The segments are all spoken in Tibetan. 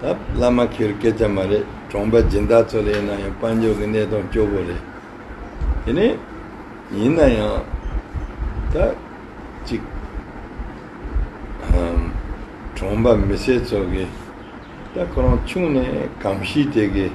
ད་བླ་མ་ཁྱོད་སྐད་ཆ་མ་རེད་གྲོང་པ་སྦྱིན་བདག་ཚོ་ལས་ན་ཡང་དཔལ་འབྱོར་གྱི་གནས་སྟངས་སྐྱོ་བོ་རེད་དེ་ནས་ཡིན་ན་ཡང་ད་ཅིག་ཧམ་གྲོང་པ་མི་སེར་ཚོ་གིས་ད་ཁོ་རང་ཆུང་ནས་གང་ཤི་དེ་གིས།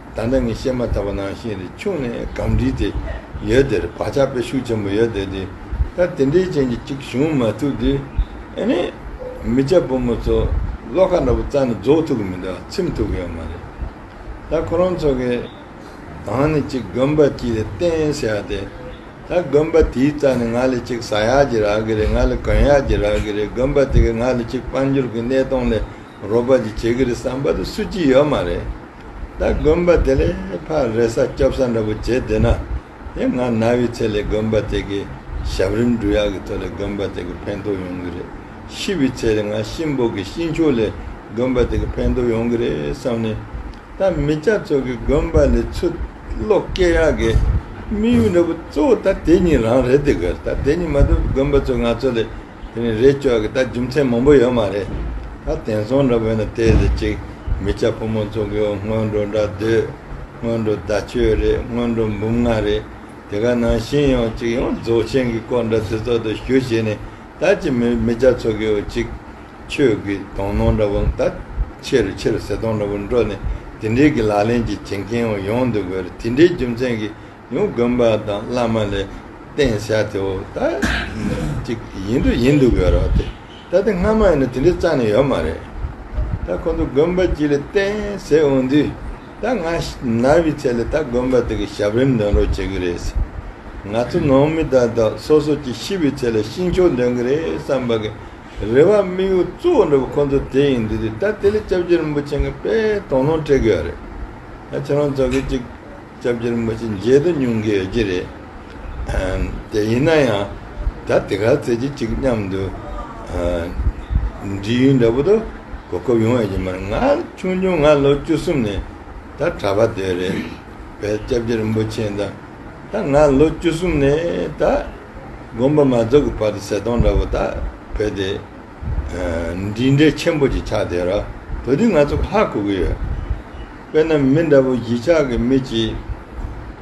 ད་ལྟ་ངས་བཤད་མ་ཐག་པ་ནང་བཞིན་རི་ཆུང་ནས་སྒང་དྲིས་ཏེ་ཡོད་དེར་བག་ཆགས་པའི་ཤུགས་ཆེན་པོ་ཡོད་དེ་དེ་ལྟར་དེ་འདྲའི་རྐྱེན་གྱིས་ཅིག་བྱུང་མ་ཐུབ་དུས་ཨེ་ནས། མི་སྐྱ་བུ་མོ་ཚོ་བློ་ཁ་འདྲ་པོ་རྩ་ནས་རྫོགས་ཐུབ་ཀྱི་མི་འདུག་ཚིམ་ཐུབ་ཀྱི་ཡོད་མ་རེད། ད་ཁོ་རང་ཚོ་གི་གང་ནས་ཅིག་དགོན་པ་གཅིག་རེ་བསྟན་ཟེར་ཡག་དེ། ད་དགོན་པ་དེའི་རྩ་ནས་ང་ལས་ཅིག་ཟ་ཡག་གྱི་རག་གི་རེད་ང་ལས་གོན་ཡག་གྱི་རག་གི་རེད་དགོན་པ་དེ་གས་ང་ལ་ཅིག་དཔལ་འབྱོར་གྱི་གནས་སྟངས་ལས་རོགས་པ་ཅིག་བྱེད་གི་རེད་བསམ་པ་དེ་སུ་གཅིག་ཡོད་མ་རེད། ད་དགོན་པ་དེ་ལས་ཕ་རེ་ས་སྐྱོབ་ས་འདྲ་པོ་བྱེད་བདེ་ན། དེ་ང་ན་བའི་ཚེ་ལས་དགོན་པ་དེ་གི་ཞབས་རིམ་འབྲུ་ཡག་གི་ཐོག་ལས་དགོན་པ་དེ་གི་ཕན་ཐོག་ཡོང་གི་རེད་ཤི་བའི་ཚེ་ལས་ང་གཤིན་པོ་གི་གཤིན་ཆོས་ལས་དགོན་པ་དེ་གི་ཕན་ཐོག་ཡོང་གི་རེད་བསམ་ནས། ད་མི་སྐྱ་ཚོ་གི་དགོན་པ་ལས་ཚུ་བློ་སྐྱེ་ཡག་གི་དམིགས་ཡུལ་འདྲ་པོ་གཙོ་བོ་ད་དེ་གཉིས་རང་རེད་དགོས་ད་དེ་གཉིས་མ་ཐུབ་དགོན་པ་ཚོ་ང་ཚོ་ལས་དེ་ནི་རེས་བཅོལ་གྱི་ད་རྒྱུ་མཚན་མང་པོ་ཡོད་མ་རེད། ད་དེང་སང་འདྲ་བོད་ན་བལྟས་ཟེར་གཅིག་མི་ཆ་ཕོ་མོ་ཚོ་གིའོ་སྔོན་འགྲོ་འདྲ་སྡོད། སྔོན་འགྲོ་ཟླ་ཆོས་རེད་སྔོན་འགྲོ་འབུམ་ལྔ་རེད། དེ་ག་ནང་བཞིན་ཡང་གཅིག་ཡང་རྫོགས་ཆེན་གྱི་སྐོར་འདྲ་ཚེ་སྲོག་ཏུ་ཞུ་བྱས་ནས་ད་ཅི་མི་མི་ཆ་ཚོ་གིའོ་གཅིག། ཆོས་ཀྱི་དོང་ནང་འདྲ་བོ་ད་ཆེ་རུ་ཆེ་རུ་ཟེར་དོང་འདྲ་བོ་འགྲོ་ནས་དེ་འདྲིའི་གི་ལག་ལེན་གྱི་བྱེད་མཁན་ཡང་ཡོང་འདུག་གོ་རེད་དེ་འདྲའི་རྒྱུ་མཚན་གྱི། ཡང་དགོན་པ་དང་བླ་མ་ལས་བསྟན་བྱ་དེའོ། ད་ཅིག་ཡིན་དུ་ཡིན་འདུག་གི་རོ་དེ། ད་དེ་སྔ་མ་ཡིན་ན་དེ་འདྲའི་རྩ་ནས་ཡོད་མ་རེད། ད་ཁོང་ཚོ་དགོན་པ་གཅིག་ལས་བསྟན་ཟེར་འོང་དུས། ད་ང་ནར་བའི་ཚད་ལས་ད་དགོན་པ་དེ་གི་ཞབས་རིམ་འདོན་རོགས་བྱེད་གི་རེད། ང་ཚོ་ནང་མི་དག་དག་སོ་སོ་ཀྱི་ཤི་བའི་ཚད་ལས་ཤིང་ཆོག་འདོན་གི་རེད་བསམ་པ་གི་རེ་བ་དམིགས་ཡུལ་གཙོ་བོ་འགྲོ་བ་ཁོང་ཚོ་དེ་ཡིན་འདུག་དུས་ད་དེ་ལས་སྐྱབས་རྗེ་རིན་པོ་ཆེ་འགའ་དཔེ་དང་ལུང་སྤྲད་གི་ཡོད་རེད། ད་ཁྱེད་རང་ཚོ་གི་ཅིག། སྐྱབས་རྗེར་མ་ཅི་མཇལ་དུ་སྙུང་གི་ཡོད་ཀྱི་རེད་དེ། ཡིན་ན་ཡང་ད་དེ་ག་ཚེ་རྗེས་གཅིག་མཉམ་དུ་འདྲིས་ཡུན་འདྲ་པོ་དུ་གོ་སྐབས་ཡོང་ཡོད་ཀྱི་མ་རེད། ང་ཆུང་ཆུང་ང་ལོ་བཅུ་གསུམ་ནས་ད་གྲྭ་པ་དེ་རེད་བས་སྐྱབས་རྗེ་རིན་པོ་ཆེ་ད་ད་ང་ལོ་བཅུ་གསུམ་ནས་ད་དགོངས་པ་མ་རྫོགས་ཀྱི་བར་དུ་ཟས་སྟོང་འདྲ་པོ་ད་བོས་ཏེ། འདི་འདྲའི་ཆེན་པོ་ཅིག་ཆགས་བསྡད་རོགས་དུས་འདི་ང་ཚོ་ཧ་གོ་གི་ཡོད། དཔེར་ན་མི་འདྲ་བོ་བཞི་ཆགས་ཀྱི་མི་གཅིག་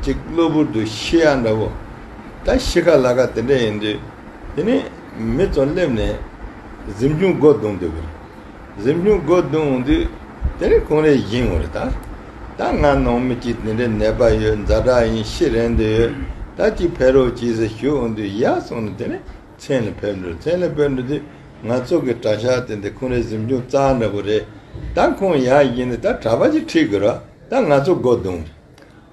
ཅིག་གློ་བུར་དུ་ཤི་ཡ་འདྲ་བོ། ད་ཤི་ཁ་ལ་ཁ་དེ་འདྲ་ཡིན་དུས་དེ་ནས་མི་ཚོ་སླེབས་ནས་གཟིམ་ཆུང་སྒོ་བརྡུང་འདོད་གི། གཟིམ་ཆུང་སྒོ་བརྡུང་འོང་དུས་དེ་རིང་ཁོང་རེ་བཞེངས་འོང་རེ་ད། ད་ང་ནང་མི་གཅིག་དེ་འདྲའི་ནད་པ་ཡོད་མཛའ་གྲགས་ཡིན་ཤི་རན་དུ་ཡོད་ད་གཅིག་ཕེབས་རོགས་གྱིས་ཟེར་ཞུ་འོང་དུས་ཡ་སོང་ནས་དེ་ནས་མཚན་ལ་ཕེབས་འགྲོ་མཚན་ལ་ཕེབས་འགྲོ་དེ་ང་ཚོ་གི་གྲྭ་ཤག་དེ་འདི་ཁོང་རེ་གཟིམ་ཆུང་རྩ་འདྲ་པོ་རེད་ད་ཁོང་ཡག་ཡིན་ནི་ད་གྲྭ་པ་ཅིག་ཁྲིད་དགོས་རོགས་ད་ང་ཚོ་སྒོ་རྡུང་རེད་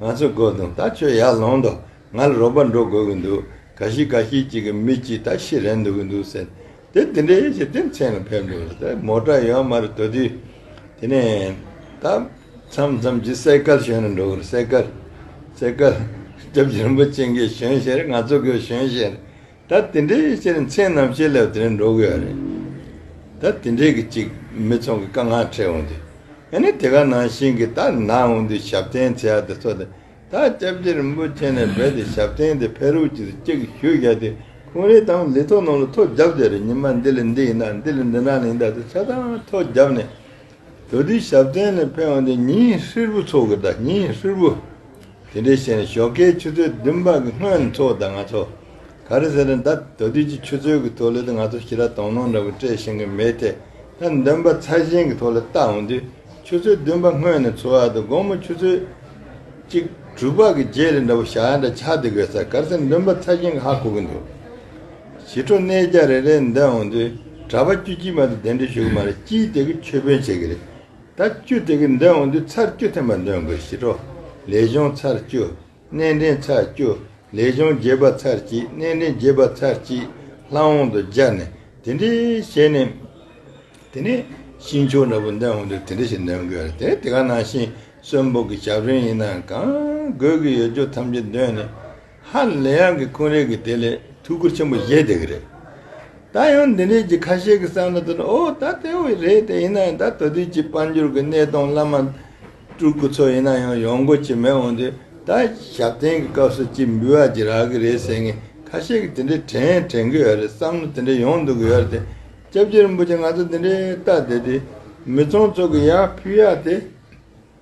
ང་ཚོ་སྒོ་རྡུང་ད་ཁྱོད་ཡར་ལོངས་དོ་ང་ལ་རོགས་པ་འགྲོ་དགོས་གི་འདུག་ག་ཤི་ག་ཤི་ཅིག་གི་མི་གཅིག་ད་ཤི་རན་འདུག་གི་འདུག་ཟེར་དེ་དེ་འདྲའི་ཞིག་དེ་མཚན་ལ་ཕེབས་འགྲོ་ལ་དེ་མོ་གྲྭ་ཡོད་མ་རེད་དོ་དུས་དེ་ནས་ད་མཚམས་མཚམས་ཀྱི་གསེར་སྐལ་ཞོན་ནས་འགྲོ་གི་རེད་གསེར་སྐལ་གསེར་སྐལ་སྐྱབས་རྗེ་རིན་པོ་ཆེ་འགའི་ཞོན་བཞིན་རེད་ང་ཚོ་གི་ཞོན་བཞིན་རེད། ད་དེ་འདྲའི་ཡིད་ཆེས་མཚན་ནམ་ཞེས་ལབ་དེ་རིང་འགྲོ་གི་ཡོད་རེད། ད་དེ་འདྲའི་གི་ཅིག་མི་ཚོང་གི་དཀའ་ངལ་འཕྲད་འོང་དུས། ཡང་ན་དེ་ག་ནང་བཞིན་གི་ད་ནང་འོང་དུས་ཞབས་བརྟན་ཚེ་ཡག་དེ་ཚོ་དེ་ད་སྐྱབས་རྗེ་རིན་པོ་ཆེ་ནས་བས་དེ་ཞབས་བརྟན་དེ་ཕེ་རུག་ཅིག་ཏུ་ཅིག་ཞུ་བཞག་དུས་ཁོང་རེའི་དང་ལི་ཐོ་ནང་ལ་ཐོ་རྒྱབ་བསྡད་རེད་ཉིན་མ་འདི་ལ་འདི་ཡིན་ད་འདི་ལ་འདི་འདྲ་ལིང་ད་ཚོ་ཆ་ཚང་ཐོ་རྒྱབ་ནས་འགྲོ་དུས་ཞབས་བརྟན་ནས་ཕེ་འོང་དུས་ཉིན་ཧྲིལ་བོ་ཚོགས་གི་ད་ཉིན་ཧྲིལ་བོ། དེ་འདྲའི་ཤེས་ནས་ཞོགས་ཀའི་ཆུ་ཚོད་བདུན་པ་གི་སྔོན་འཚོགས་དང་ང་ཚོ་ག་རེ་ཟེར་ན་ད་ད་དུས་ཀྱི་ཆུ་ཚོད་ཀྱི་ཐོག་ལས་དུ་ང་ཚོ་ཞི་ར་དོང་ནོང་འདྲ་བོ་སྤྲད་ཤེས་གི་མེད་དེ་ད་འདོན་པ་ཚ་ཞིང་གི་ཐོག་ལ་ལྟ་འོང་དུས་ཆུ་ཚོད་བདུན་པ་སྔོན་ནས་འཚོ་བ་དང་དགོང་མོ་ཆུ་ཚོད་གཅིག་དྲུག་པ་གི་རྗེས་རེ་འདྲ་བོ་ཞག་འདྲ་ཆགས་འདུག་གས་ས་ག་རེ་ཟེར་འདོན་པ་ཚ་ཞིང་གི་ཧ་གོ་གི་འདུག་ཞི་ཁྲོ་གནས་རྒྱ་རེ་རེ་འདོན་འོང་དུས་གྲྭ་པ་བཅུ་གཅིག་མ་གཏོགས་གདན་འདྲེན་ཞུ་གི་མ་རེད་སྤྱིའི་སྟེགས་ཀྱི་ཆོས་དཔོན་བྱེད་ཀྱི་རེད། ད་བཅུ་དེ་གི་འདོན་འོང་དུས་ཚར་བཅུ་ཐེམ་པ་འདོན་དགོས་ཞི་ཁྲོ་ལས་གཞུང་ཚར་བཅུ། གནས་འདྲེན་ཚར་བཅུ། ལས་གཞུང་བརྒྱད་པ་ཚར་གཅིག་གནས་འདྲེན་བརྒྱད་པ་ཚར་གཅིག་ལྷ་འོང་དུ་སྦྱར་ནས་དེ་འདྲི་བྱས་ནས། དེ་ནས་ཤིང་ཆོག་འདྲ་པོ་འདོན་འོང་དུས་དེ་འདྲི་བྱེད་འདོན་དགོས་རེད་དེ་དེ་ག་ནང་བཞིན་གསོན་ཕོག་གི་ཞབས་རིན་ཡིན་ནའང་དགོས་ཀྱི་ཡོད་ཆོག་ཐམས་ཅད་འདོན་ནས། ཧ་ལས་ཡང་གི་ཀུན་རིག་གི་དེ་ལས་ཐུགས་ཁུར་ཆེན་པོ་བཞེས་དེ་གི་རེད། ད་ཡང་འདི་འདྲས་ཀྱི་ཁ་ཤས་ཀྱི་བསམ་བློ་དོན་ཨོ་ད་དེ་འི་རེད་དེ་ཡིན་ན་ཡང་ད་དོ་དུས་ཀྱི་དཔལ་འབྱོར་གི་གནས་སྟངས་བླ་མ་སྤྲུལ་སྐུ་ཚོ་ཡིན་ན་ཡང་ཡོང་སྒོ་ཅི་མེད་འོང་དུས་ད་ཞབས་བརྟན་གི་སྐབས་སུ་ཅི་འབུལ་བ་ཅི་རག་གི་རེད་ཟེར་ངེས་ཁ་ཤས་ཀྱི་དེ་འདྲས་དྲན་དྲན་གི་ཡོད་རེད་བསམ་བློ་དེ་འདྲས་ཡོང་འདུག་གི་ཡོད་རེད་དེ་སྐྱབས་རྗེ་རིན་པོ་ཆེ་ང་ཚོ་འདི་འདྲས་ལྟ་བསྡད་དུས་མི་ཚང་ཚོགས་ཀྱི་ཡར་ཕུད་ཡར་དེ།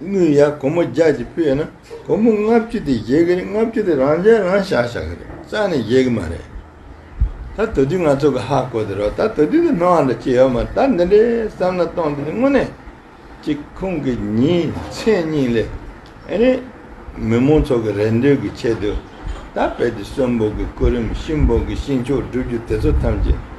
དངུལ་ཡར་སྒོར་མོ་བརྒྱ་གཅིག་སྤོས་ན་སྒོར་མོ་ལྔ་བཅུ་དེ་བཞེས་ཀྱི་རེད་ལྔ་བཅུ་དེ་རང་འཇལ་རང་བཞག་བཞག་གི་རེད་རྩ་ནས་བཞེས་ཀྱི་མ་རེད་ད་ད་དུས་ང་ཚོ་གི་ཧ་གོ་དེ་རོགས་ད་ད་དུས་དེ་སྣང་བ་འདྲ་ཅི་ཡོད་མ་རེད་ད་འདི་འདྲའི་བསམ་ན་སྟོང་དེ་དེ་དངོས་གནས་ཅིག་ཁོང་གི་ཉིན་མཚན་གཉིས་ལས་ཨེ་རེད་མི་མང་ཚོ་གི་རེ་འདོད་ཀྱི་ཆེད་དུ་ད་བལ་དུ་གསོན་པོ་གི་སྐུ་རིམ་ཤིང་སྦོག་གི་ཤིང་ཆོག་སྒྲུབ་རྒྱུ་དེ་ཚོ་ཐམས་ཅད།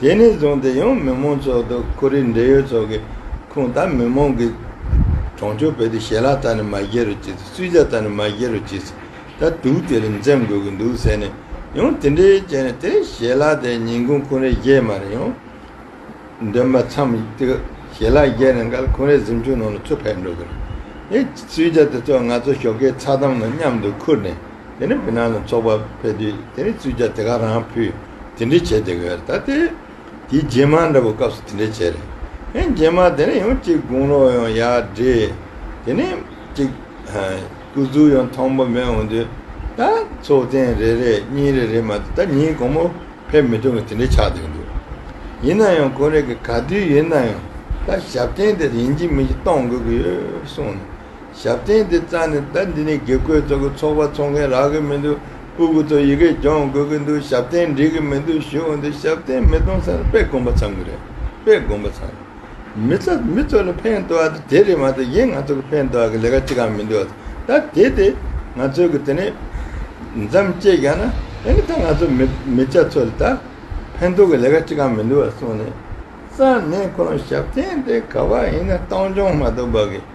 དེ་ནས་བཟུང་སྟེ་ཡང་མི་མང་ཚོགས་དང་ཁོར་ཡུག་འབྲེལ་ཡོད་ཚོགས་ཀྱི་ཁོངས་དང་མི་མང་གི་གྲོང་ཆོག་བོད་དུ་ཞལ་ལག་ད་ནི་མ་བཞེས་རོགས་གྱིས་སུས་ཇག་ད་ནི་མ་བཞེས་རོགས་གྱིས་ད་དུག་དེ་རིགས་འཛེམ་དགོས་ཀྱི་འདུག་ཟེར་ནས་ཡང་དེ་འདྲའི་བྱས་ནས་དེ་ཞལ་ལག་དེ་ཉིན་གུང་ཁོ་རེ་བཞེས་མ་རེ་ཡང་འདོན་པ་མཚམས་དེ་ཞལ་ལག་བཞེས་ནས་འགལ་ཁོ་རེ་གཟིམ་ཆུང་ནང་ལ་ཚུར་ཕེབས་འགྲོ་གི་རེད་སུས་ཇག་དེ་ཚོ་ང་ཚོ་ཞོགས་ཀའི་ཚགས་དམ་ནང་མཉམ་དུ་ཁུར་ནས། དེ་ནས་བི་ན་ལ་ཚོགས་པ་ཕེབས་དུས་དེ་ནས་བཙུན་བྱ་དེ་ག་རང་ཕུད་དེ་འདྲས་བྱས་དེ་ག་ད་ལྟའི་དེའི་རྗེས་མ་འདྲ་པོ་སྐབས་སུ་དེ་འདྲས་བྱས་རེད་ཧེ་རྗེས་མ་དེ་ནས་ཡང་གཅིག་དགུང་ལོ་ཡང་ཡག་འདྲས་དེ་ནས་གཅིག་སྐུ་གཟུགས་ཡང་མཐོང་པོ་མེད་འོང་དུས་ད་ཚོགས་ཐེངས་རེ་རེ་གཉིས་རེ་རེ་མ་ད་ཉིན་གོང་མོ་ཕེབས་མི་ཐུབ་ཀི་དེ་འདྲས་ཆགས་འདུག་འདུག་ཡིན་ན་ཡང་གོ་རེ་གི་ག་དུས་ཡིན་ན་ཡང་ད་ཞབས་བརྟན་དེ་ཡིན་གྱི་མིན་གྱི་གཏོང་དགོས་ཀི་ཡོད་གསུངས་ཞབས་བརྟན་དེ་རྩ་ནས་ཟླ་འདི་ནས་དགེ་བསྐོས་གཙོ་གི་ཚོགས་པ་ཚོགས་མཁན་རག་གི་མི་འདུག་སྤུ་གུ་ཚོ་ཡི་གེ་སྦྱོང་དགོས་ཀྱི་འདུག་ཞབས་བརྟན་འགྲིག་གི་མི་འདུག་ཞུ་འོང་དུས་ཞབས་བརྟན་མི་གཏོང་ས་ནི་དཔེ་དགོན་པ་ཚང་གི་རེད་དཔེ་དགོན་པ་ཚང་མི་ཚ་མི་ཚོ་ལ་ཕན་བཏོག་ཡ་དེ་རེད་མ་གཏོགས་གཞན་ང་ཚོ་གི་ཕན་བཏོག་ཡ་གི་ལས་ཀ་ཅི་གང་མི་འདུག་ད་དེ་དེ་ང་ཚོའི་གི་དེ་ནས་འཇམ་བཅད་རྒྱག་ན་དེ་ནི་ད་ང་ཚོ་མི་མི་སྐྱ་ཚོ་ལ་ད་ཕན་ཐོག་གི་ལས་ཀ་ཅི་གང་མི་འདུག་གསུངས་ནས་རྩ་ནས་ཁོང་ཞབས་བརྟན་དེ་ག་བ་ཡིན་ན་སྟངས་སྦྱོང་མ་གཏོགས་བག་གི།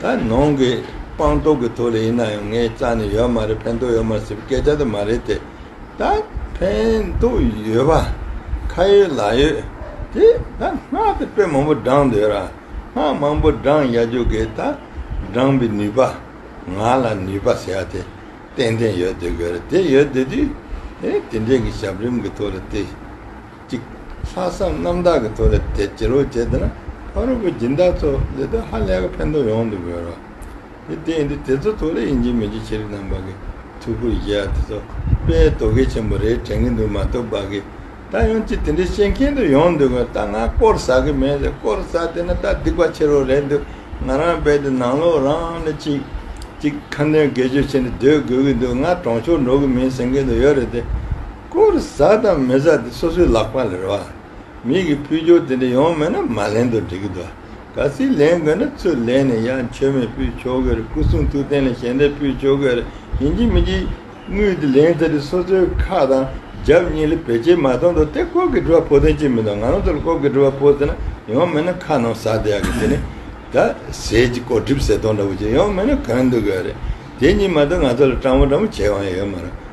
ད་ནང་གི་སྤང་རྟོགས་ཀྱི་ཐོག་ལ་ཡིན་ན་ཡང་ངས་རྩ་ནས་ཡོད་མ་རེད་ཕན་ཐོགས་ཡོད་མ་རེད་ཟེར་བའི་སྐད་ཆ་དེ་མ་རེད་དེ། ད་ཕན་ཐོགས་ཡོད་པ་ཁ་ཡོད་ལག་ཡོད་དེ་ད་སྔགས་དེ་དཔེ་མང་པོ་བགྲང་འདོད་ར་སྔགས་མང་པོ་བགྲང་ཡ་རྒྱུ་གས་ད་བགྲང་པའི་ནུས་པ་ང་ལ་ནུས་པ་ཟེར་ཡ་དེ་ཏན་ཏན་ཡོད་དོད་གས་ར་དེ་ཡོད་དོད་དུས་དེ་འདྲས་ཀྱི་ཞབས་རིམ་གྱི་ཐོག་ལ་དེ། ཅིག། ལྷག་བསམ་རྣམ་དག་གིས་ཐུགས་ལ་དད་ཅི་རོགས་བྱས་དེ་ན་ཕ་རོལ་པོའི་སྦྱིན་བདག་ཚོ་འདི་ལྟར་ཧ་ལས་ཀ་ཕན་ཐོགས་ཡོང་དུ་དགོས་རོགས། འདི་དེ་ཡིན་དུས་དེ་ཚོ་ཐུགས་ལ་ཡིད་འཇིགས་མི་བྱེད་ཕྱིར་རྣམ་པ་གི་ཐུགས་ཁུར་བཞེས་ཡ་དེ་ཚོ་དཔེ་དོ་གལ་ཆེན་པོ་རེད་དྲན་གི་འདུག་མ་གཏོགས་བག་གི་ད་ཡོང་ཅིག་དེ་འདྲའི་ཤེས་མཁན་དུ་ཡོང་འདུག་གོ་ད་ང་སྐོར་ཟ་གི་མེད་ཟེར་སྐོར་ཟ་དེ་ན་ད་སྡིག་པ་ཆེ་རོགས་རེད་འདུག་ང་རང་རྦད་དེ་ནང་ལོག་རང་ནས་ཅིག། ཅིག་ཁ་འདོན་དགེ་སྤྱོད་ཆེ་ནས་སྡོད་དགོས་གི་འདུག་ང་གྲོང་ཆོག་འགྲོ་གི་མིན་ཟེར་མཁན་དུ་ཡོད་རེད་དེ། སྐོར་བཟའ་དང་མི་བཟའ་དེ་སོ་སོའི་ལག་པ་ལས་རེད་བ། མིག་གི་ཕུལ་སྦྱོར་དེ་འདྲ་ཡོང་མེད་ན་མ་ལེན་དུ་འགྲིག་གི་འདུག་བ། ག་ཚིག་ལེན་དགོས་ན་ཚུར་ལེན་ནས་ཡ་མཆོད་མེ་ཕུལ་ཆོ་གའི་རེད་སྐུ་གསུང་ཐུགས་རྟེན་ལ་ཞལ་འདེབས་ཕུལ་ཆོ་གའི་རེད་ཡིན་གྱི་མིན་གྱི། དངུལ་དེ་ལེན་ཚར་དུས་སོ་སོའི་ཁ་དང་རྒྱབ་གཉིས་ལ་བེད་སྤྱད་མ་གཏོང་དུ་དེ་ལྐོག་གི་འགྲུལ་བ་ཕོག་དོན་ཅི་མི་འདུག་ང་རང་ཚོ་ལ་ལྐོག་གི་འགྲུལ་བ་ཕོག་ཟེར་ན་ཡོང་མེད་ན་ཁ་ནང་ཟག་བསྡད་ཡག་གི་དེ་ནི། ད་ཟས་ཀྱི་ལྐོག་སྒྲིབ་ཟས་སྟོང་འདྲ་བོ་ཅིག་ཡོང་མེད་ན་གང་འདུག་གི་རེད་དེ་གཉིས་མ་གཏོགས་ང་ཚོ་ལ་སྤྲང་བོ་སྤྲང་བོ་བྱེད་དབང་ཡོད་མ་རེད་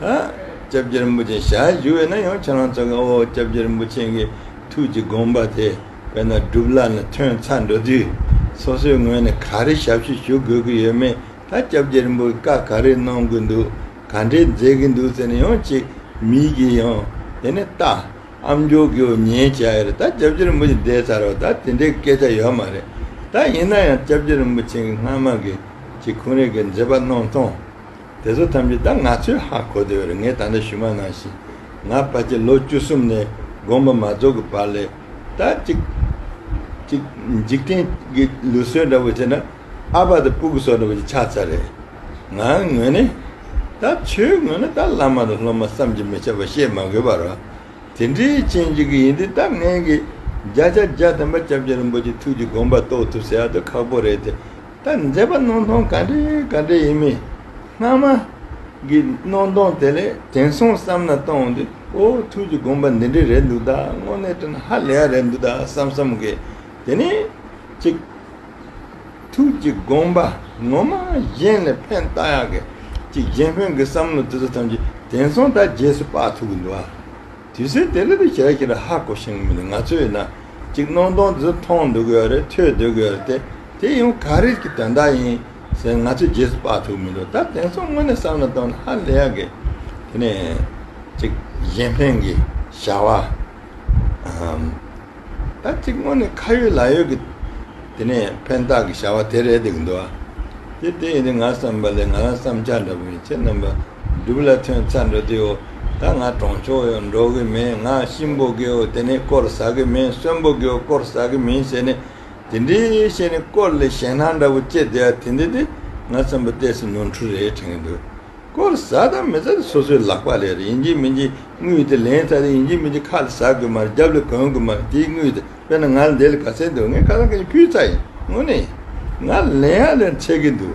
ལྕགས་ཀྱི་རིན་པོ་ཆེ་ཞལ་བཞུགས་བས་ན་ཡང་ཁྱེད་རང་ཚོ་གའོ་ལྕགས་ཀྱི་རིན་པོ་ཆེན་གྱི་ཐུགས་ཀྱི་དགོངས་པ་དེ་བས་ན་སྒྲུབ་སླ་ནས་ཐོན་ཚར་འགྲོ་དུས་སོ་སོའི་ངོས་ནས་ག་རེ་ཞབས་ཕྱི་ཞུ་དགོས་ཀྱི་ཡོད་མེད་ད་ལྕགས་ཀྱི་རིན་པོ་བཀའ་ག་རེ་གནང་དགོས་འདུག་ག་འདྲའི་མཛད་ཀྱི་འདུག་ཟེར་ནས་ཡང་ཅིག་མིག་གིས་ཡང་དེ་ནས་ལྟ། ཨ་མཆོག་གིའོ་ཉན་བྱ་ཡ་རེད་ད་ལྕགས་ཀྱི་རིན་པོ་ཆེ་འདས་ཚར་བ་ད་དེ་འདྲའི་སྐད་ཆ་ཡོད་མ་རེད་ད་ཡིན་ན་ཡང་ལྕགས་ཀྱི་རིན་པོ་ཆེན་གྱི་སྔ་མ་གི་གཅིག་ཁུང་རེ་གི་མཛད་པ་གནང་སྟངས། དེ་ཚོ་ཐམས་ཅད་ད་ང་ཚོས་ཧ་གོ་བདེ་བ་རེད་ངས་ད་ལྟ་ཞུ་མ་གནང་ཞིག་ང་ཕ་གྱི་ལོ་བཅུ་གསུམ་ནས་དགོངས་པ་མ་རྫོགས་ཀྱི་བར་ལས་ད་ཅིག་ཅིག་འཇིག་རྟེན་གྱི་ལུས་གསོལ་འདྲ་བོ་བྱེད་ན་ཨ་ཕ་དང་སྤུ་གུ་སོགས་འདྲ་བོ་ཞིག་ཆགས་ཚར་རེད་ང་ངོས་ནས་ད་ཁྱོའི་ངོས་ནས་ད་བླ་མ་དང་སློབ་མ་བསམ་གྱི་མི་ཁྱབ་པ་བཤད་མ་དགོས་པར་དེ་འདྲའི་རྐྱེན་གཅིག་གི་ཡིན་དུས་ད་ངན་གྱི་བརྒྱ་ཆ་བརྒྱ་བསྟན་པ་སྐྱབས་རྗེ་རིན་པོ་ཆེ་ཐུགས་ཀྱི་དགོངས་པ་རྟོགས་ཐུབ་ཟེར་ཡག་ཏུ་ཁག་པོ་རེད་དེ། ད་མཛེས་པ་སྣང་སྟོང་ག་འདྲའི་ག་འདྲའི་ཡིན་མིན། སྣང་མ། གི་སྣང་སྟོང་དེ་ལས་དེང་སང་བསམ་ན་སྟོང་འདི་ཨོ་ཐུགས་ཀྱི་དགོངས་པ་འདི་འདྲའི་རེད་འདུག་ད་དངོས་གནས་དྲན་ཧ་ལས་ཡ་རེད་འདུག་ད་བསམ་བསམ་དགོས། དེ་ནས། ཅིག། ཐུགས་ཀྱི་དགོངས་པ་ངོ་མ་གཞན་ལས་ཕན་བཏགས་ཡག་གི། ཅིག་གཞན་ཕན་གི་བསམ་བློ་དེ་ཚོ་ཐམས་ཅད་དེང་སང་ད་རྗེས་སུ་དཔག་ཐུབ་གི་འདུག་ཨ། དུས་ཚོད་དེ་ལ་དེ་བྱས་ཕྱིར་ཧ་གོ་ཞིང་མི་ལ་ང་ཚོས་ན་ཅིག་སྣང་སྟོང་འདི་མཐོང་འདོད་གི་ཡོད་རེད་ཐོས་འདོད་གི་ཡོད་རེད་དེ་དེ་ཡང་ག་རེད་ཀྱི་དོན་དག་ཡིན་ཟེར་ང་ཚོས་རྗེས་སུ་དཔག་ཐུབ་མི་འདུག་ད་དེང་སང་དངོས་གནས་བསམ་བློ་གཏོང་ན་ཧ་ལས་ཡག་གི། དེ་ནས་ཅིག་གཞན་ཕན་གྱི་བྱ་བ་ཨམ། ད་ཅིག་དངོས་གནས་ཁ་ཡོད་ལག་ཡོད་ཀྱི་དེ་ནས་ཕན་བཏགས་ཀྱི་བྱ་བ་དེ་རེད་འདུག་གི་འདུག་དེ་དེ་ཡིན་དུས་ང་བསམ་པ་ལས་ང་རང་བསམ་འཆར་འདྲ་པོ་ཡིན་ཁྱེད་རྣམ་པ་སྒྲུབ་ལ་ཐོན་ཚ་འགྲོ་དེའོ། ད་ང་གྲོང་ཆོག་ཡོད་འགྲོ་གི་མེད་ང་གཤིན་པོ་དགེའོ་དེ་ནི་དཀོར་ཟ་གི་མིན་གསོན་པོ་དགེའོ་དཀོར་ཟ་གི་མིན་ཞེས་ནི། དེ་འདྲའི་ཞེས་ནི་དཀོར་ལས་གཞན་སྣང་འདྲ་བོ་ཅེས་བདེ་བ་དེ་འདི་དེ་ང་བཙན་པོ་ལྟས་སུ་ནོར་འཁྲུལ་རེ་དྲན་གྱི་འདུག། དཀོར་ཟ་དང་མི་ཟ་དེ་སོ་སོའི་ལག་པ་ལས་རེད་ཡིན་གྱི་མིན་གྱི་དངུལ་དེ་ལེན་ཚ་དེ་ཡིན་གྱི་མིན་གྱི་ཁ་ལ་ཟ་དགོས་མ་རེད་རྒྱབ་ལ་གོན་དགོས་མ་རེད་དེའི་དངུལ་དེ་དཔེར་ན་ང་ལ་འདི་ལ་ག་ཚད་འདུག་ངས་ཁ་སང་ག་ཉིན་ཕུལ་ཚ་ཡིན་དངུལ་ནི། ང་ལེན་ཡང་ལེན་ཚད་ཀྱི་འདུག།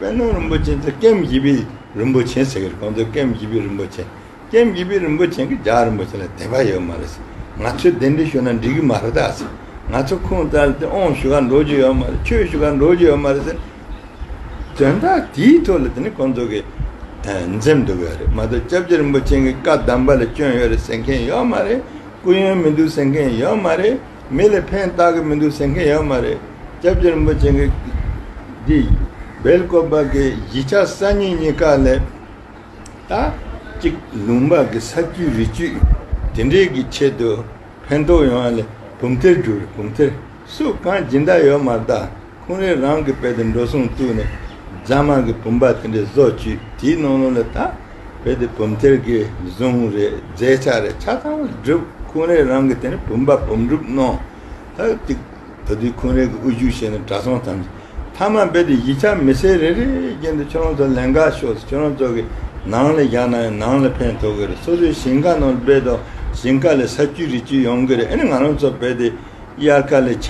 དཔལ་ནོར་རིན་པོ་ཆེན་ཚེ་སྐེམ་བཞི་པའི་རིན་པོ་ཆེན་ཟེར་གི་རེད་ཁོང་ཚོ་སྐེམ་བཞི་པའི་རིན་པོ་ཆེན་སྐེམ་བཞི་པའི་རིན་པོ་ཆེན་གྱི་ལྗགས་རིན་པོ་ཆེན་ལ་དད་པ་ཡོད་མ་རེད་ང་ཚོས་དེ་འདྲའི་ཞུ་ན་འགྲིག་གི་མ་རེད་ད་ང་ཚོ་ཁུངས་བཙལ་ཏེ་ཨོང་ཞུ་ག་འགྲོ་རྒྱུ་ཡོད་མ་རེད་ཆོས་ཞུ་ག་འགྲོ་རྒྱུ་ཡོད་མ་རེད་ཟེར། དོན་དག་དེའི་ཐོག་ལ་དེ་ནི་ཁོང་ཚོ་གི་འཛེམ་འདུག་གི་རེད་མ་གཏོགས་སྐྱབས་རྗེ་རིན་པོ་ཆེན་གྱི་བཀའ་གདམས་པ་ལ་སྐྱོན་ཡོད་རེད་ཟེར་མཁན་ཡོད་མ་རེད་སྐུ་ཡོན་མི་འདུག་ཟེར་མཁན་ཡོད་མ་རེད། མི་ལ་ཕན་བཏགས་གི་མི་འདུག་ཟེར་མཁན་ཡོད་མ་རེད། སྐྱབས་རྗེ་རིན་པོ་ཆེ་གིས་འདི་སྦེལ་བཀོད་པ་གི་གཞིས་ཆགས་གསར་རྙིང་གཉིས་ཀ་ལས། ད་ཅིག་ལུང་པ་གི་ས་བཅུད་རི་བཅུད་དེ་འདྲའི་གི་ཆེད་དུ་ཕན་ཐོགས་ཡོང་བ་ལས་བུམ་ཐེར་བསྒྲུབས་རེད་བུམ་ཐེར་སུ་གང་སྦྱིན་བདག་ཡོད་མ་གདའ། ཁོང་རེ་རང་གི་དཔེ་དེ་འགྲོ་སོང་བཙུགས་ནས་རྫ་དམར་གྱི་བུམ་པ་དེ་འདྲའི་བཟོ་བཅོས་དེའི་ནང་ལོགས་ལ་དག་བོད་དེ་བུམ་ཐེར་གྱི་གཟུངས་རེད་རྫས་ཆ་རེད་ཆ་ཚང་མ་བསྒྲུབས་ཁོང་རེ་རང་གི་དེ་ནས་བུམ་པ་བུམ་སྒྲུབ་གནང་ད་ཏིག་ད་དུས་ཁོང་རེ་གི་དབུ་བཞུགས་བྱས་ནས་གྲ་སོང་ཐམས་ཅད་མཐའ་མ་འབད་དེ་གཞི་ཆ་མི་སེར་རེ་རེའི་རྒྱན་དུ་ཁྱོད་རང་ཚོ་ལན་འགའ་ཤོག་སུ་ཁྱོད་རང་ཚོ་གི་ནང་ལས་བཞག་ན་ཡང་ནང་ལ་ཕན་ཐོག་གི་རེད་སོ་སོའི་ཞིང་ཁ་ནང་ལ་འབད་དོ་ཞིང་ཁ་ལས་ས་བཅུད་རི་བཅུད་ཡོང་གི་རེད་ཨེ་ནི་ང་རང་ཚོ་འབད་དེ། དབྱར་ཁ་ལས་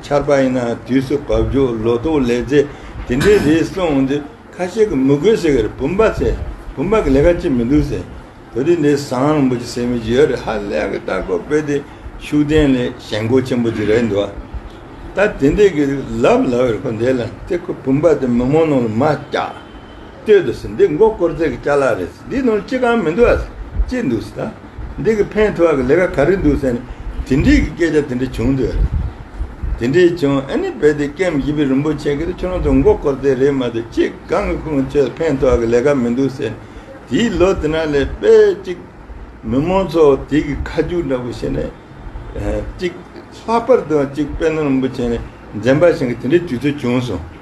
ཆར་པ་ཡིན་ན་དུས་སུ་བབ་རྒྱུ་ལོ་ཏོག་ལས་རྫས་དེ་འདྲའི་རེ་གསུངས་འོང་དུས་ཁ་ཤས་ཀྱིས་མི་དགོས་ཟེར་གི་རེད་བུམ་པ་ཟེར་བུམ་པ་གི་ལས་ཀ་ཅི་མི་འདུག་ཟེར་བུ་རིགས་འདི་བཟང་བོ་ཅིག་སེམས་ཡིད་ཡོད་རེད་ཧ་ལས་ཀྱི་ལྟ་སྐོར་སྤེལ་དེ་ཤུགས་ལྡན་ལས་ཞན་མགོ་ཆེན་པོ་ཅིག་རེད་འདུག་ད་དེ་འདྲས་ཀྱི་ལབ་ལབ་རེད་ཁོ་འདས་ལ་དེ་ཁོ་བུམ་པ་དེ་མི་མང་ནང་ལ་མ་བཀྱགས། ལྟོས་འདུག་ཟེར་འདི་མགོ་བསྐོར་རྩེད་ཀྱི་བཅའ་ལག་རེད་ཟེར་འདིའི་ནང་ཅི་གང་མི་འདུག་ཨ་ཟེར་ཅི་འདུག་ཟེར་ད་འདི་གི་ཕན་ཐོག་གི་ལས་ཀ་ག་རེ་འདུག་ཟེར་ནས་དེ་འདྲིའི་གི་སྐད་ཆ་དེ་འདྲ་བྱུང་འདུག་ཨ་རེད་དེ་འདྲའི་བྱུང་ཨ་ནི་རྦད་དེ་སྐེམ་བཞི་པའི་རིན་པོ་ཆེ་གིས་ཁྱོད་རང་ཚོ་མགོ་བསྐོར་རྩེད་རེད་མ་འདུག་ཅི་གང་གི་ཁུངས་བཅོལ་ཕན་ཐོག་གི་ལས་ཀ་མི་འདུག་ཟེར་ནས་དེའི་ལོ་དེ་ན་ལས་དཔེ་གཅིག་མི་མང་ཚོ་དེ་གི་ཁ་རྒྱུག་འདྲ་པོ་བྱེད་ནས་གཅིག་ལྷག་པར་དུ་གཅིག་དཔལ་ནོར་རིན་པོ་ཆེ་ནས་འཛེམ་པ་བཞིན་གྱི་དེ་འདྲའི་དུས་ཚོད་བྱུང་སོང།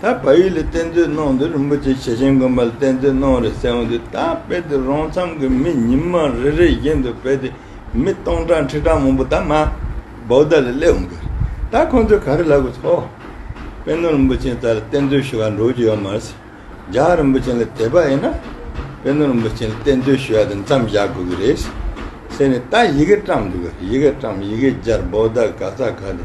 ད་བལ་ཡུལ་ལ་གཏེར་མཛོད་གནང་དུས་རིན་པོ་ཆེ་ཞེ་ཆེན་དགོན་པ་ལ་གཏེར་མཛོད་གནང་རེད་ཟེར་འོང་དུས་ད་དཔེ་དེ་རོང་མཚམས་ཀྱི་མི་ཉིན་མ་རེ་རེ་བཞིན་དུ་བལ་དེ་མི་སྟོང་ཕྲག་ཁྲི་ཕྲག་མང་པོ་ད་མ་བོ་ད་ལ་སླེབས་འོང་གི་རེད་ད་ཁོང་ཚོས་ག་རེ་ལབ་དགོས་ཐོ། དཔེ་ནོར་རིན་པོ་ཆེན་ད་ལ་གཏེར་མཛོད་ཞུ་བ་འགྲོ་རྒྱུ་ཡོད་མ་རེད་ཟེར་ཇག་རིན་པོ་ཆེན་ལ་དེད་པ་ཡིན་ན་དཔེ་ནོར་རིན་པོ་ཆེན་ལ་གཏེར་མཛོད་ཞུ་བ་དེ་མཚམས་བཞག་དགོས་ཀྱི་རེད་ཟེར་ཟེར་ནས་ད་ཡི་གེ་བཀྲམས་འདུག་གི་རེད་ཡི་གེ་བཀྲམས་ཡི་གེ་སྦྱར་བོ་ད་ག་ས་ག་དེ་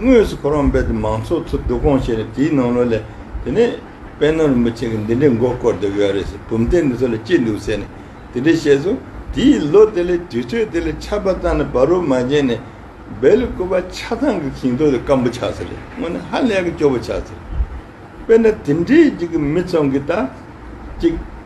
དངོས་སུ་ཁོ་རང་རྦད་དེ་མང་ཚོགས་ཚོ་སྡུག་གོང་བྱས་ནས་དེའི་ནང་ལོགས་ལས། དེ་ནས་དཔལ་ནོར་རིན་པོ་ཆེ་གིས་འདི་འདྲའི་མགོ་བསྐོར་བསྡད་ཡོད་རེད་ཟེར་བུམ་གཏན་འདི་ཚོ་ལ་ཅི་འདུག་ཟེར་ནས་དེ་འདྲས་བཤད་སོང། དེའི་ལོ་དེ་ལས་དུས་ཚོད་དེ་ལས་ཆར་པ་བཏང་ནས་བ་རོ་མ་བྱས་ནས། སྦེ་ལི་ཀོ་བ་ཆ་ཚང་གི་ཞིང་ཐོག་དེ་སྐམ་པོ་ཆགས་ཟེར་རེད་དངོས་ནས་ཧ་ལས་གི་སྐྱོ་བོ་ཆགས་ཟེར། དཔེར་ན་དེ་འདྲའི་གཅིག་གི་མི་ཚང་གིས་ད། གཅིག།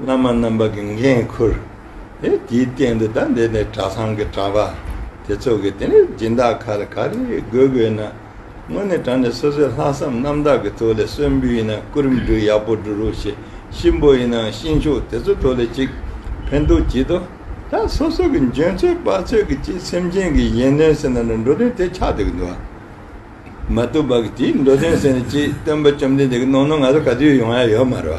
བླ་མ་རྣམ་པ་གྱི་འགན་ཁུར། དེའི་སྟེང་དུ་ད་འདི་ནས་གྲྭ་ཚང་གི་གྲྭ་པ་དེ་ཚོ་གི་དེ་ནས་སྦྱིན་བདག་ཁ་ལ་ག་རེ་དགོས་དགོས་ན། དངོས་གནས་གྲྭ་ནས་སོ་སོའི་ལྷག་བསམ་རྣམ་དག་གི་ཐོག་ལས་གསོན་འབུལ་ཡིན་ན་སྐུ་རིམ་འབྲུ་ཡག་པོ་འབྲུ་རུ་ཞེས་གཤིན་པོ་ཡིན་ནའང་གཤིན་ཤོག་དེ་ཚོ་ཐོག་ལས་གཅིག་ཕན་ཐོག་གཅིག་དོ། ད་སོ་སོ་གི་འཇོན་ཚོད་དཔའ་ཚོད་ཀྱི་ཅིག་སེམས་ཅན་གྱི་ཡིན་ནོ་ཟེར་ན་ནི་འགྲོ་དོན་དེ་ཆགས་འདུག་གི་འདུག་ཨ། མ་ཏུ་པ་གི་དེའི་འགྲོ་དོན་ཟེར་ནི་ཅིག་སྟོན་པ་བཅོམ་ལྡན་འདས་ཀྱི་ནོར་ནོར་ང་ཚོ་ག་དུས་ཡོང་ཡ་ཡོད་མ་རེད་བ།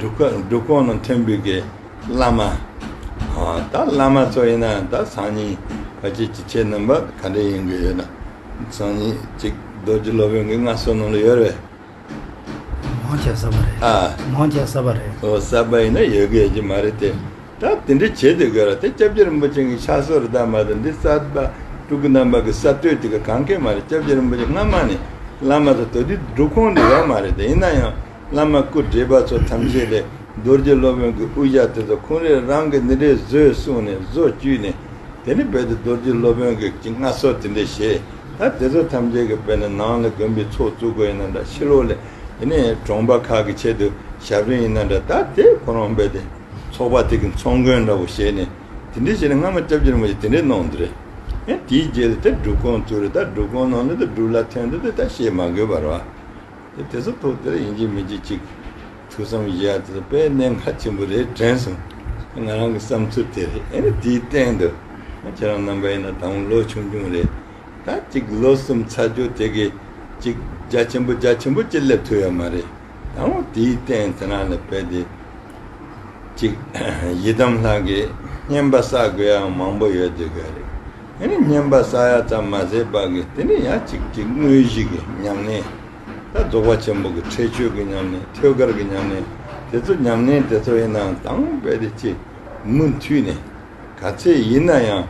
འབྲུག་ཀོང་ནང་ཐོན་འབུད་ཀྱི་བླ་མ། ད་བླ་མ་ཚོ་ཡིན་ན་ད་སང་ཉིན་ཕ་སྐྱིད་ཀྱི་ཁྱེད་རྣམ་པ་ག་འདྲ་ཡིན་གྱི་ཡོད་ན། སང་ཉིན་གཅིག་རྡོ་རྗེ་སློབ་དཔོན་གྱི་མངའ་གསོལ་གནང་ལ་ཡོད་རེད། མང་ཆེ་ས་པ་རེད། མང་ཆེ་ས་པ་རེད། ཨོ་ས་པ་ཡིན་ན་ཡོད་གི་ཡོད་ཀྱི་མ་རེད་དེ། ད་དེ་འདྲ་བྱེད་དེ་ག་ར་དེ་སྐྱབས་རྗེ་རིན་པོ་ཆེ་ངའི་ཕྱག་སོར་བདག་མ་དང་འདི་རྩ་བ་སྤྲུལ་སྐུ་རྣམ་པ་གི་གསར་གཏོད་དེ་ག་གང་གི་མ་རེད་སྐྱབས་རྗེ་རིན་པོ་ཆེ་སྔ་མ་ནས་བླ་མ་ཚོ་དོ་དེ་སྒྲུབ་ཁོངས་ནས་ཡོག་མ་རེད་དེ་ཡིན་ན་ཡང་བླ་མ་སྐུ་བགྲེས་པ་ཚོ་ཐམས་ཅད་ལས་རྡོ་རྗེ་སློབ་དཔོན་གི་དབུ་ཞྭ་དེ་ཚོ་ཁོང་རེ་རང་གི་འདི་འདྲའི་བཟོས་གསུངས་ནས་བཟོ་བཅུས་ནས་དེ་ནས་བས་དེ་རྡོ་རྗེ་སློབ་དཔོན་གི་གི་སྔ་སོར་དེ་འདྲ་བྱས་ད་དེ་ཚོ་ཐམས་ཅད་གི་བས་ན་ནང་ལ་དགོན་པའི་ཚོགས་བཙུགས་དགོས་ཡིན་ན་འདྲ་ཕྱི་ལོག་ལས་དེ་ནས་གྲོང་པ་ཁག་གི་ཆེད་དུ་ཞབས་རིན་ཡིན་ན་འདྲ་ད་དེ་ཁོ་རང་བས་དེ། ཚོགས་པ་དེ་གི་ཚོགས་མགོན་འདྲ་བོ་བྱས་ནས་དེ་འདྲས་བྱས་ནས་སྔ་མ་སྐྱབས་རྗེ་རིན་པོ་ཆེ་དེ་འདྲས་གནང་འདི་རེད། ཡང་དེའི་རྗེས་ལ་དེ་སྒྲུབ་ཁང་བཙུགས་རེད་ད་སྒྲུབ་ཁང་ནང་ནས་དེ་སྒྲུབ་ལ་ཐོན་འདི་དེ་ད་བཤད་མ་དགོས་པར་བ། དེ་དེ་ཚོ་ཐོག་དེ་ར་ཡིན་གྱི་མིན་གྱི་གཅིག་ཐུགས་བསམ་བཞེས་ཡག་དེ་ཚོ་དཔེ་གནད་འགའ་ཆེན་པོ་རེད་དྲན་སོང། ང་རང་གི་བསམ་ཚུལ་དེ་རེད་ཨེ་ན་དེའི་སྟེང་དུ་ཁྱེད་རང་རྣམ་པ་ཡིན་ན་ད་འོང་ལོ་ཆུང་ཆུང་རེད་ད་གཅིག་ལོ་གསུམ་ཚར་རྒྱུ་དེ་གི་གཅིག་རྒྱ་ཆེན་པོ་རྒྱ་ཆེན་པོ་གཅིག་སླེབས་ཐུབ་ཡ་མ་རེད། དང་པོ་དེའི་རྟེན་རྩེ་རང་ལ་འཕེལ་ཏེ། གཅིག། ཡི་དམ་ལྷ་དགེ་བསྙེན་པ་བསགས་དགོས་ཡའང་མང་པོ་ཡོད་དེ་གལ་རེ་ཨེ་ནི་བསྙེན་པ་བསགས་ཡ་ཙམ་མ་ཟད་པ་གི་དེ་ནི་ཡང་གཅིག་གཅིག་དངོས་གཞི་གི་ཉམས་ལེན་དང་རྫོགས་པ་ཆེན་པོ་གི་ཁྲེགས་ཆོད་ཀྱི་ཉམས་ལེན་ཐོད་དཀར་གྱི་ཉམས་ལེན་དེ་ཚོ་ཉམས་ལེན་དེ་ཚོ་ཡིན་ནའང་དང་པོ་འཕེལ་ཏེ་གཅིག་མུ་མཐུད་ནས། ག་ཚད་ཡིན་ན་ཡང་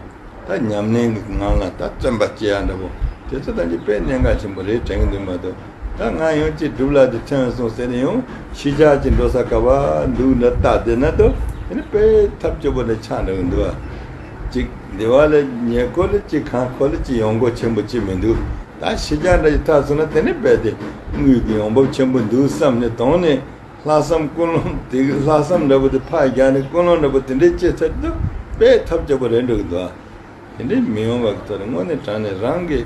ད་ཉམས་ལེན་གྱི་ངང་ལ་ད་བརྩོན་པ་བྱེད་ཡག་འདྲ་བོ་དེ་ཚོ་དང་གཅིག་དཔེ་གནད་འགག་ཆེན་པོ་རེད་དྲན་གྱི་འདུག་མ་གཏོགས་ད་ང་ཡང་ཅི་སྒྲུབ་ལག་དེ་ཕྲེང་བས་སོང་ཟེར་ནས་ཡང་ཤི་ཆགས་ཀྱི་འགྲོ་ས་དཀའ་བ་འདུག་འདྲ་བལྟ་བསྡད་ན་ཏོ་དེ་ནི་དཔེ་ཐབས་སྐྱོ་པོ་འདྲ་ཆགས་འདྲ་བོ་འདུག་ཅིག་འདི་བ་ལས་ཉེ་ཁོ་ལ་ཅི་གང་ཁོ་ལ་ཅི་ཡོང་སྒོ་ཆེན་པོ་ཅི་མི་འདུག་ད་ཤི་ཆགས་འདྲ་ཞིག་ཐག་སོང་ན་དེ་ནི་རྦད་དེ་དངུལ་གྱི་ཡོང་འབབ་ཆེན་པོ་འདུག་བསམ་ནས་དོང་ནས། ལྷག་བསམ་ཀུན་སློང་དེ་ལྷག་བསམ་འདྲ་པོ་དེ་ཕར་རྒྱག་ནས་ཀུན་སློང་འདྲ་པོ་དེ་འདྲའི་སྐྱེ་ཚར་དུས་དཔེའི་ཐབས་སྐྱོ་པོ་རེད་འགྲོ་གི་འདུག་དེ་འདྲའི་མི་ཡོང་བ་གི་ཚོད་རེད་དངོས་གནས་དྲང་ནས་རང་གི།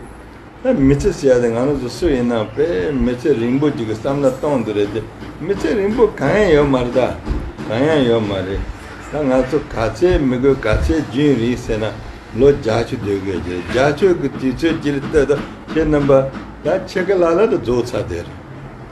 ད་མི་ཚེ་ཟེར་ཡ་དེ་ང་རང་ཚོ་སུ་ཡིན་ནམ་དཔེ་མི་ཚེ་རིང་པོ་ཅིག་གི་བསམ་བླ་གཏོང་དུ་རེད་དེ་མི་ཚེ་རིང་པོ་གང་ཡང་ཡོད་མ་རེད་ད་གང་ཡང་ཡོད་མ་རེད་ད་ང་ཚོ་ག་ཚད་མི་དགོས་ག་ཚད་རྒྱུན་རིང་ཟེར་ན་ལོ་བརྒྱ་ཆུ་སྡོད་དགོས་ཀྱི་རེད་བརྒྱ་ཆོད་གི་དུས་ཚོད་ཅིག་ལ་ལྟོས་དང་ཁྱེད་རྣམ་པ་ད་ཁྱེད་ག་ལ་ལ་དུ་རྫོགས་ཚར་དེ་རེད།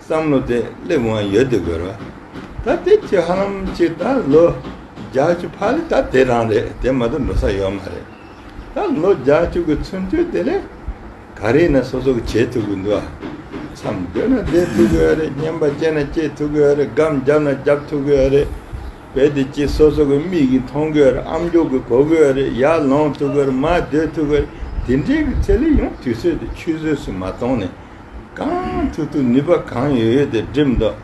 བསམ་བློ་དེ་སླེབས་དབང་ཡོད་དེ་དགོས་ར་ད་དེབ་ཀྱི་ཧ་ལམ་གཅིག་ད་ལོ་བརྒྱ་བཅུ་ཕར་ལས་ད་དེ་རང་རེད་དེ་མ་ཏོ་འགྲོ་ས་ཡོད་མ་རེད་ད་ལོ་བརྒྱ་བཅུ་གི་ཚུན་དུས་དེ་ལས་ག་རེ་ན་སོ་སོ་གི་བྱེད་ཐུབ་གི་འདུག་ཨ་མཚམས་སྡོད་ན་སྡོད་ཐུབ་གི་ཡོད་རེད་སྙན་པ་སྐྱེས་ན་སྐྱེས་ཐུབ་གི་ཡོད་རེད་སྒམ་བརྒྱབ་ན་བརྒྱབ་ཐུབ་གི་ཡོད་རེད་བེད་དེ་གཅིག་སོ་སོ་གི་མིག་གིས་མཐོང་གི་ཡོད་རེད་ཨམ་མགྱོགས་གིས་གོ་གི་ཡོད་རེད་ཡར་ལོངས་ཐུབ་གི་ཡོད་རེད་མར་སྡོད་ཐུབ་གི་ཡོད་རེད་དེ་འདྲའི་གི་ཚད་ལས་ཡང་དུས་ཚོད་དེ་ཆུད་ཟོས་སུ་མ་གཏོང་ནས། གང་འཐུས་ཐུབ་ནུས་པ་གང་ཡོད་ཡོད་དེ་འགྲིམ་འདོད་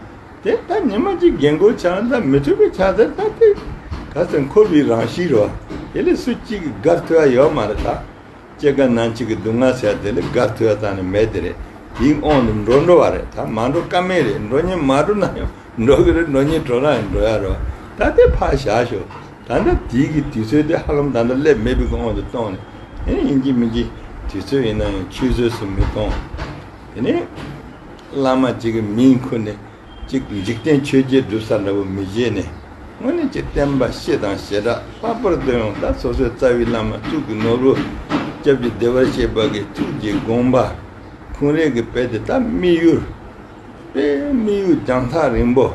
དེ་ལྟ་ཉི་མ་གཅིག་རྒན་རྒོན་ཆགས་ན་མི་འཐུས་པའི་ཆགས་ཚད་ལྟ་དེ་ག་ཚོད་འཁོར་བའི་རང་གཤིས་རོ། དེ་ལས་སུ་གཅིག་གི་སྒར་འཐུས་ཨ་ཡོད་མ་རེད་ད། སྐྱེ་རྒ་ན་འཆི་གི་སྡུག་བསྔལ་ཟེར་དེ་ལས་སྒར་འཐུས་ཨ་ཙང་ནས་མེད་དེ་རེད། ཡིག་ཨོང་དུ་འགྲོ་འགྲོ་བ་རེད་ད་མ་འགྲོ་ཀ་མེད་རེད་འགྲོ་ཉིན་མ་འགྲོ་ན་ཡང་འགྲོ་གི་རེད་འགྲོ་ཉིན་གྲོ་ན་ཡང་འགྲོ་ཡ་རོ། ད་དེ་ཕར་བཞག་ཞོག། ད་ལྟ་དུས་ཀྱི་དུས་ཚོད་དེ་ཧ་ལམ་ད་ལྟ་སླེབས་མེད་པའི་དབང་དུ་གཏོང་ནས། དེ་ནི་ཡིན་གྱི་མིན་གྱི་དུས་ཚོད་ཡིན་ན་ཡང་ཆུད་ཟོས་སུ་མི་གཏོང། དེ་ནི། བླ་མ་གཅིག་གི་མིང་འཁུར་ནས་གཅིག་འཇིག་རྟེན་ཆོས་རྒྱལ་སྒྲུབ་ས་འདྲ་བོ་མི་བཞེས་ནས། དངོས་གནས་ཀྱི་བསྟན་པ་གཤེ་དང་ཞེ་དྲག་ལྷག་པར་དུ་ཡང་བདག་སོ་སོའི་རྩ་བའི་བླ་མ་གཙུག་གི་ནོར་བུ། སྐྱབས་ཀྱི་བདེ་བར་གཤེགས་པ་གི་ཐུགས་ཀྱི་དགོངས་པ། འཁུན་རས་ཀྱི་དཔལ་དེ་དག་དམིགས་ཡུལ། དཔེའི་དམིགས་ཡུལ་རྒྱང་ཐག་རིང་པོ།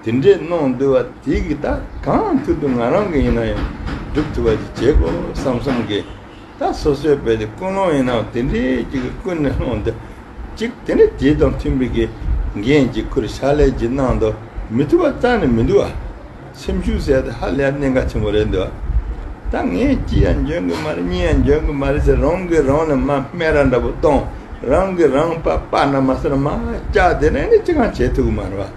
དེ་འདྲས་གནང་འདོད་བ་དེ་གི་ད་གང་ཐུབ་ཐུབ་ང་རང་གི་ཡིན་ན་ཡང་སྒྲུབ་ཐུབ་པ་ཅིག་བྱེད་དགོས་བསམ་བསམ་གི། ད་སོ་སོའི་བེད་དེ་ཀུན་སློང་ཡིན་ནའང་དེ་འདྲས་ཅིག་གི་ཀུན་ནས་སློང་འདོད་ཅིག་དེ་འདྲས་དེ་དང་མཐུན་པའི་གི་འགན་ཅིག་ཁུར་ཕྱག་ལས་ཅིག་གནང་འདོད་མི་ཐུབ་པ་རྩ་ནས་མི་འདུག་ཨ། སེམས་ཤུགས་ཟད་དེ་ཧ་ལས་གནད་འགག་ཆེན་པོ་རེད་འདོད་ཨ། ད་ངས་ཅི་ཡང་འཇོན་གི་མ་རེད་གཉིས་ཡང་འཇོན་གི་མ་རེད་ཟེར་རང་གིས་རང་ལ་མ་སྨད་ར་འདྲ་པོ་གཏོང་རང་གིས་རང་པ་པ་ན་མ་ཟེར་མ་སྐྱག་དེ་འདྲས་ནི་ཅི་གང་བྱེད་ཐུབ་གི་མ་རེད་བ།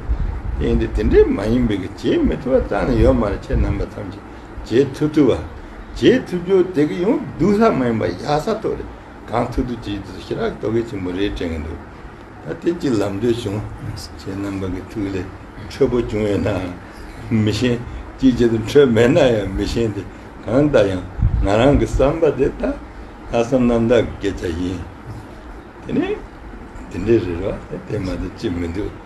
ཡིན་ཏེ་དེ་འདྲའི་མ་ཡིན་པའི་གྱེས་མི་ཐུབ་པ་ཙམ་ལས་ཡོད་མ་རེད་ཁྱེད་རྣམ་པ་ཐམས་ཅད་གྱེས་ཐུབ་ཐུབ་བ། གྱེས་ཐུབ་རྒྱུ་དེ་གི་ཡང་སྡུག་ལྷག་མ་ཡིན་པ་ཡག་ས་ཐོག་རེད་གང་ཐུབ་ཐུབ་གྱེས་ཐུབ་ཞི་རག་གི་དོ་གས་ཆེན་པོ་རེད་དྲན་གི་འདུག་ད་དེ་གྱི་ལམ་འགྲོས་བྱུང་ཁྱེད་རྣམ་པ་གི་ཐུགས་ལས་འཕྲོད་པོ་བྱུང་ཡོད་ནའང་མི་ཤེས་ཅིའི་ཕྱིར་དུ་འཕྲོད་མེད་ན་ཡང་མི་ཤེས་ཏེ་གང་ལྟར་ཡང་ང་རང་གི་བསམ་པ་དེ་དང་ལྷག་བསམ་རྣམ་དག་གི་སྐད་ཆ་ཡིན་དེ་ནི་དེ་འདྲའི་རེད་རོ་དེ་མ་ཏོག་ཅི་མི་འདུག།